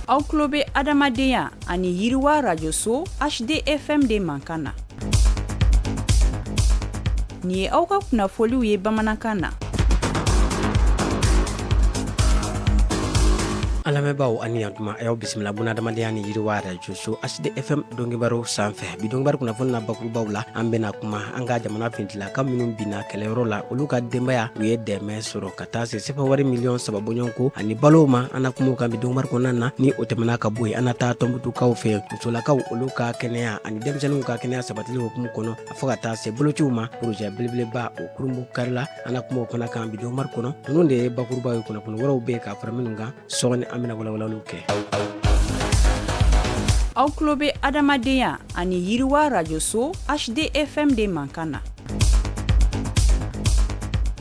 aw tulo bɛ adamadenya ani yiriwa rajoso hdfm de mankan na nin ye aw ka kunnafoliw ye bamanankan na an lamɛnbaaw ani yantuma a y'aw bisimila buna adamadenya ni yiriwa rajoso hdfm donkibaru sanfɛ bi donkibaru kunnafoni na bakurubaw la an bɛna kuma an ka jamana fintilaka minnu binna kɛlɛyɔrɔ la olu ka denbaya u ye dɛmɛ sɔrɔ ka ka taa se sefa wari miliyɔn saba bɔɲɔgɔnko ani balow ma an na kuma o kan bi donkibaru kɔnɔna na ni o tɛmɛna ka bɔ yen an na taa tɔnbutukaw fɛ musolakaw olu ka kɛnɛya ani denmisɛnninw ka kɛnɛya sabatili hukumu kɔnɔ a fo ka taa se bolociw ma porozɛ belebeleba o kurunbonkarila an na kuma o fana kan bi donkibaru kɔnɔ ninnu de ye bakurubaw ye kunnafoni wɛrɛw bɛ ka fara minnu kan sɔɔni an bɛna walawalaliw kɛ aw tulo bɛ adamadenya ani yiriwa rajoso hdfm de mankan na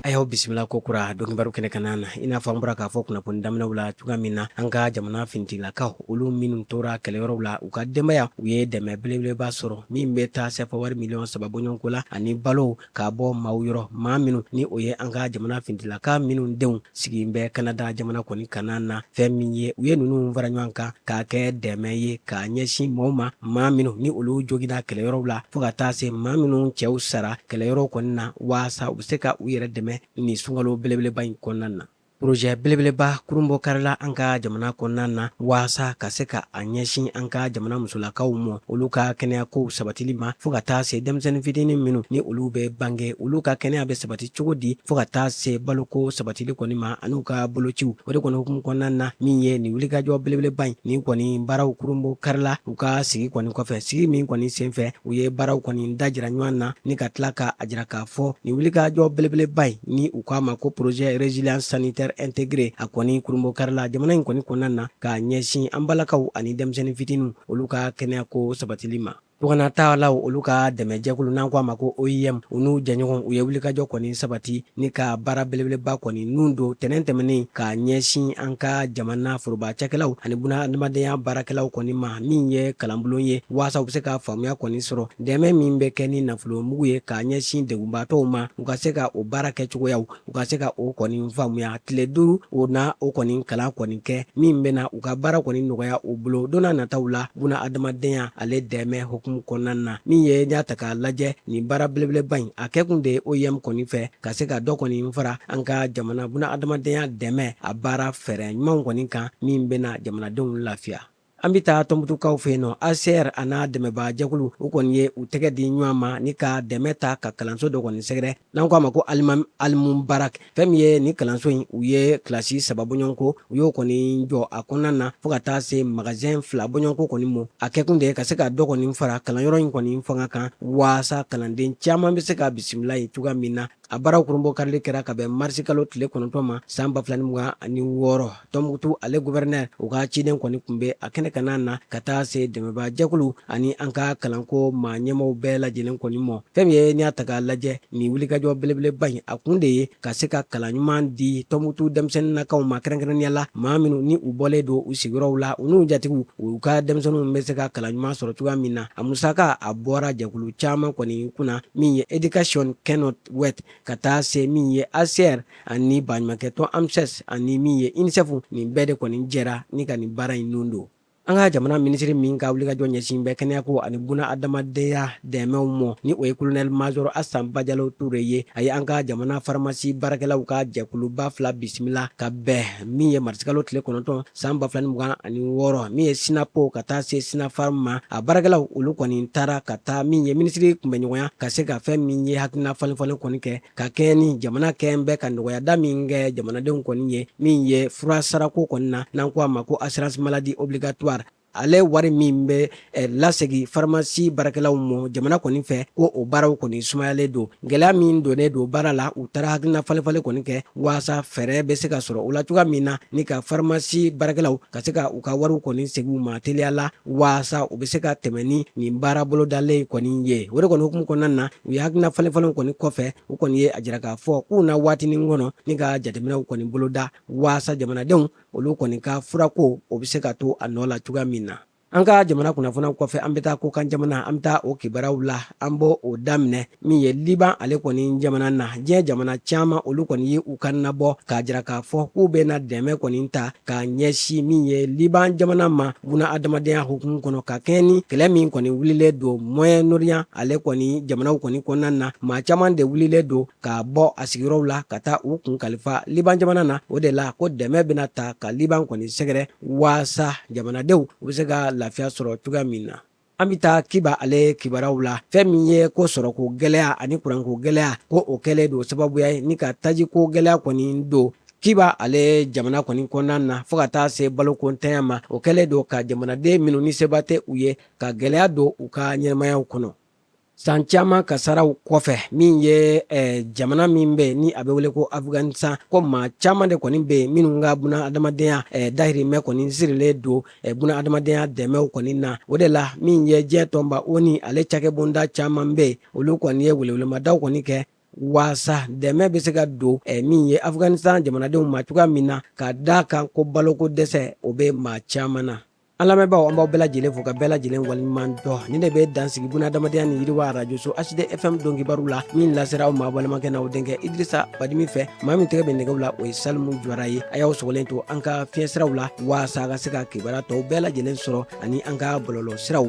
a y'aw bisimila kokura donkibaru kɛnɛ kanna na i n'a fɔ an bɔra k'a fɔ kunnafoni daminɛw la cogoya min na an ka jamana fintigilakaw olu minnu tora kɛlɛyɔrɔw la u ka denbaya u ye dɛmɛ belebeleba sɔrɔ min bɛ taa sɛfa wari miliyɔn saba bɔɲɔgɔnko la ani balo k'a bɔ maaw yɔrɔ maa minnu ni o ye an ka jamana fintilaka minnu denw sigilen bɛ kanada jamana kɔni kanna na fɛn min ye u ye ninnu fara ɲɔgɔn kan k'a kɛ dɛmɛ ye k'a ɲɛsin maaw ma maa minnu ni olu jogina kɛlɛyɔrɔw la fɔɔ ka taa se maa minnu cɛw sara kɛlɛyɔrɔw kɔni na waasa u bɛ se ka u yɛrɛ dɛmɛ nin sunkalo belebeleba in kɔnɔna na Porozɛ belebeleba kurunbonkarila an ka jamana kɔnɔna na waasa ka se ka a ɲɛsin an ka jamana musolakaw ma olu ka kɛnɛyakow sabatili ma fo ka taa se denmisɛnnin fitini minnu ni olu bɛ bange olu ka kɛnɛya bɛ sabati cogo di fo ka taa se baloko sabatili kɔni ma ani u ka bolociw o de kɔni hukumu kɔnɔna na min ye nin wulikajɔ belebeleba in ni kɔni baaraw kurunbonkarila u ka sigi kɔni kɔfɛ sigi min kɔni senfɛ u ye baaraw kɔni dajira ɲɔgɔn na ni ka tila k'a jira k'a fɔ nin wulikajɔ belebeleba in ni k'a ma ko projet résilience sanitaire intégrée a kɔni kurunbonkarila jamana in kɔni kɔnɔna na k'a ɲɛsin an balakaw ani denmisɛnnin fitiniw olu ka kɛnɛyako sabatili ma tunganataalaw olu ka dɛmɛjɛkulu n'an ko a ma ko oim u n'u jɛɲɔgɔn u ye wulikajɔ kɔni sabati ni ka baara belebeleba kɔni nun don tɛnɛn tɛmɛnen k'a ɲɛsin an ka jamana foroba cakɛlaw ani buna adamadenya baarakɛlaw kɔni ma min ye kalanbulon ye waasa u bɛ se ka faamuya kɔni sɔrɔ dɛmɛ min bɛ kɛ ni nafolo mugu ye k'a ɲɛsin degunbaatɔw ma u ka se ka o baara kɛcogoyaw u ka se ka o kɔni faamuya tile duuru o na o kɔni kalan kɔni kɛ min bɛna u ka baara kɔni nɔgɔya u bolo donna nataw la buna adamadenya ale dɛmɛ hukumu kɔnɔna na min ye n'i y'a ta k'a lajɛ nin baara belebeleba in a kɛkun de ye oim kɔni fɛ ka se ka dɔ kɔni fara an ka jamana buna adamadenya dɛmɛ a baara fɛɛrɛ ɲumanw kɔni kan min bɛna jamanadenw lafiya An bɛ taa tɔnbutukaw fɛ yen nɔ ACR a n'a dɛmɛbaajɛkulu u kɔni ye u tɛgɛ di ɲɔgɔn ma ni ka dɛmɛ ta ka kalanso dɔ kɔni sɛgɛrɛ n'an k'a ma ko alima almubarak fɛn min ye ni kalanso in u ye kilasi saba bɔɲɔgɔnko u y'o kɔni jɔ a kɔnɔna na fo ka taa se magazɛn fila bɔɲɔgɔnko kɔni ma a kɛkun de ye ka se ka dɔ kɔni fara kalanyɔrɔ in kɔni fanga kan waasa kalanden caman bɛ se ka bisimila yen cogoya min na A baaraw kurunbonkarili kɛra ka bɛn marisikalo tile kɔnɔntɔn ma san ba fila ni mugan ani wɔɔrɔ tɔnbukutu ale gouverneur u ka ciden kɔni tun bɛ a kɛnɛ kan na ka taa se dɛmɛbaajɛkulu ani an ka kalanko maa ɲɛmaaw bɛɛ lajɛlen kɔni ma fɛn min ye n'i y'a ta k'a lajɛ nin wulikajɔ belebeleba in a kun de ye ka se ka kalan ɲuman di tɔnbukutu denmisɛnninnakaw ma kɛrɛnkɛrɛnnenya la maa minnu ni u bɔlen don u sigiyɔrɔw la u n'u jatigiw u ka denmisɛnninw bɛ se ka kalan ɲuman sɔrɔ cogoya min na a musaka a bɔra jɛkulu caman kɔni kunna min ye education cannot wait ka taa se min ye ACR ani baɲumankɛtɔn AMSS ani min ye UNICEF nin bɛɛ de kɔni jɛra ni ka nin baara in nun don an ka jamana minisiri min ka wulikajɔ ɲɛsin bɛ kɛnɛyako ani buna adamadenya dɛmɛw mɔ ni o ye kolonɛli mazɔri asan bajalo ture ye a ye an ka jamana faramasi baarakɛlaw ka jɛkuluba fila bisimila ka bɛn min ye marisikalo tile kɔnɔntɔn San ba fila ni mugan ani wɔɔrɔ min ye sinapo ka taa se sinafarm ma a baarakɛlaw olu kɔni taara ka taa min ye minisiri kunbɛnɲɔgɔnya ka se ka fɛn min ye hakilina falenfalen kɔni kɛ ka kɛɲɛ ni jamana kɛlen bɛ ka nɔgɔyada min kɛ jamanadenw kɔni ye min ye fura sarako kɔni na n'an ko a ma ko assurance maladie obligatoire ale wari min bɛ eh, lasegi faramasi baarakɛlaw mɔ jamana kɔni fɛ ko o baaraw kɔni sumayalen don gɛlɛya min donnen don baara la u taara hakilina falenfalen kɔni kɛ waasa fɛɛrɛ bɛ se ka sɔrɔ o la cogoya min na ni ka faramasi baarakɛlaw ka se ka u ka wariw kɔni segin u ma teliya la waasa u bɛ se ka tɛmɛ ni nin baara bolodalen kɔni ye o de kɔni hukumu kɔnɔna na u ye hakilina falenfalenw kɔni kɔfɛ u kɔni ye a jira k'a fɔ k'u na waatinin kɔnɔ ni ka jateminɛw kɔni boloda waasa jamanadenw olu kɔni ka furako o bɛ se ka to a nɔ la cogoya min na an ka jamana kunnafoniw kɔfɛ an bɛ taa kɔkan jamana an bɛ taa o kibaruyaw la an b'o o daminɛ min ye liban ale kɔni jamana na diɲɛ jamana caman olu kɔni ye u kan nabɔ k'a jira k'a fɔ k'u bɛna dɛmɛ kɔni ta k'a ɲɛsin min ye liban jamana ma buna adamadenya hukumu kɔnɔ ka kɛɲɛ ni kɛlɛ min kɔni wulilen don moyen orient ale kɔni jamanaw kɔni kɔnɔna na maa caman de wulilen don k'a bɔ a sigiyɔrɔw la ka taa u kun kalifa liban jamana na o de la ko dɛmɛ bɛna ta ka liban kɔni sɛgɛrɛ waasa jamanadenw u bɛ se ka lafiya sɔrɔ cogoya min na an bɛ taa kiba ale kibaraw la fɛn min ye ko sɔrɔko gɛlɛya ani kuranko gɛlɛya ko o kɛlen don sababuya ye ni ka tajiko gɛlɛya kɔni don kiba ale jamana kɔni kɔnɔna na fɔɔ ka taa se balokontanya ma o kɛlen don ka jamanaden minnu ni seba tɛ u ye ka gɛlɛya don u ka ɲɛnamayaw kɔnɔ san caman kasaraw kɔfɛ min ye eh, jamana min bɛ ni a bɛ wele ko afghanistan ko maa caman de kɔni bɛ yen minnu ka buna adamadenya eh, dahirimɛ kɔni sirilen don eh, buna adamadenya dɛmɛw kɔni na o de la min ye diɲɛ tɔnba onu ale cakɛbonda caman bɛ yen olu kɔni ye welewelemadaw kɔni kɛ waasa dɛmɛ bɛ se ka don eh, min ye afghanistan jamanadenw ma cogoya min na ka da kan ko baloko dɛsɛ o bɛ maa caman na An lamɛnbaaw an b'aw bɛɛ lajɛlen fo ka bɛɛ lajɛlen waleɲuman dɔn nin de bɛ dansigi buna adamadenya ni yiriwa arajoso hd fm don kibaru la min lasera aw ma balimakɛ n'aw denkɛ idrisa badimi fɛ maa min tɛgɛ bɛ nɛgɛw la o ye salimu jawara ye a y'aw sɔgɔlen to an ka fiɲɛsiraw la waasa ka se ka kibaruya tɔw bɛɛ lajɛlen sɔrɔ ani an ka bɔlɔlɔ siraw